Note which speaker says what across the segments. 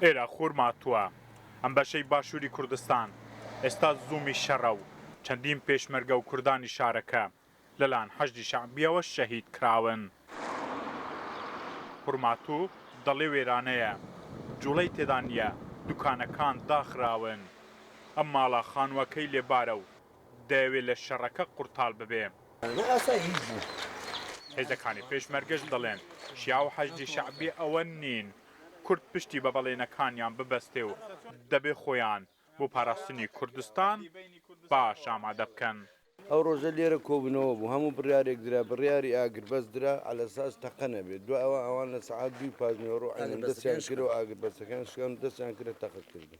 Speaker 1: ئێرە خورما تووە ئەم بەشەی باشووری کوردستان ئێستا زوومی شەڕە و چەندین پێشمەرگە و کوردانی شارەکە لەلایەن حەشدی شەعبییەوە شەهید کراون. خورماتوو دەڵێ وێرانەیە، جووڵەی تێدا نییە، دووکانەکان داخراون. ئەم ماڵە خانووەکەی لێبارە و دەیەوێ لە شەڕەکە قورتاڵ ببێ. هێزەکانی پێشمەرگەش دەڵێن، شیاع و حەشدی شەعبی ئەوە نین کورد پشتی بە بەڵێنەکانیان ببەستێ و دەبێ خۆیان بۆ پاراستنی کوردستان باش ئامادە بکەن. ئەو ڕۆژە لێرە
Speaker 2: کۆبوونەوە بوو، هەموو بڕیارێک درا، بڕیاری ئاگربەست درا عەلەساس تەقە نەبێ، دوای ئەوە ئەوان لە سەعات دووی پاشنیوەڕۆ عەینەمدەستیان کرد و ئاگربەستەکەیان شکان و دەستیان کرد لە تەقەکردن.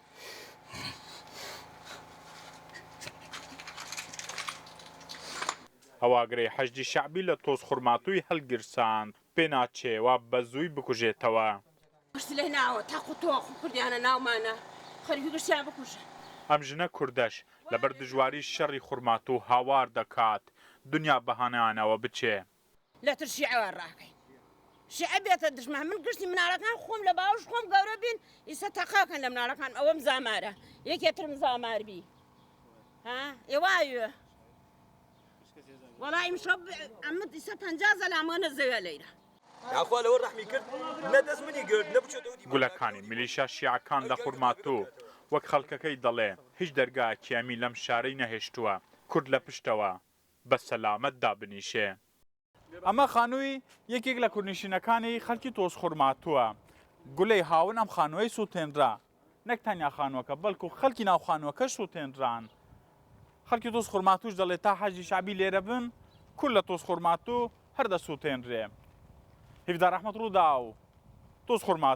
Speaker 1: ئەو ئاگرەی حەشدی شەعبی لە تۆزخورماتووی هەڵگیرساند، پێناچێ وا بەزووی بکوژێتەوە.
Speaker 3: ئەم ژنە
Speaker 1: کوردەش لەبەر دژواری شەڕی خورماتوو هاوار دەکات، دنیا بەهانایانەوە بچێ. لەتر شیعە
Speaker 3: وا ڕاکەین شیعە بێتە دژمان من گشتی مناڵەکان خۆم لە باوش خۆم گەورە بین ئیسە تەقاکەن لە مناڵەکان ئەوەم زامارە یەکێترم زامار بی ها ئێوایە وەڵا ئیمشەب ئەمە ئیسە پەنجا زەلامۆنە زەوێ لەیرە یاخوا لەوە
Speaker 4: ڕەحمی کرد نە دەست منی گرت نە بچێتەوە دیوار گولەکانی میلیشا
Speaker 1: شیعەکان لە خورماتوو وەک خەڵکەکەی دەڵێ هیچ دەرگایەکیامی لەم شارەی نەهێشتووە کورد لە پشتەوە بە سەلامەت دابنیشێ. ئەمە خانووی یەکێک لە کوردنشینەکانی خەڵکی تۆزخورماتووە. گولەی هاوون ئەم خانووەی سووتێنرا. نەک تەنیا خانووەکە، بەڵکوو خەڵکی ناو خانووەکەش سووتێنران. خەڵکی تۆزخورماتووش دەڵێ تا حەشدی شەعبی لێرە بن، کورد لە تۆزخورماتوو هەر دەسووتێنرێ. هیڤدار ئەحمەد، رووداو، تۆزخورماتوو.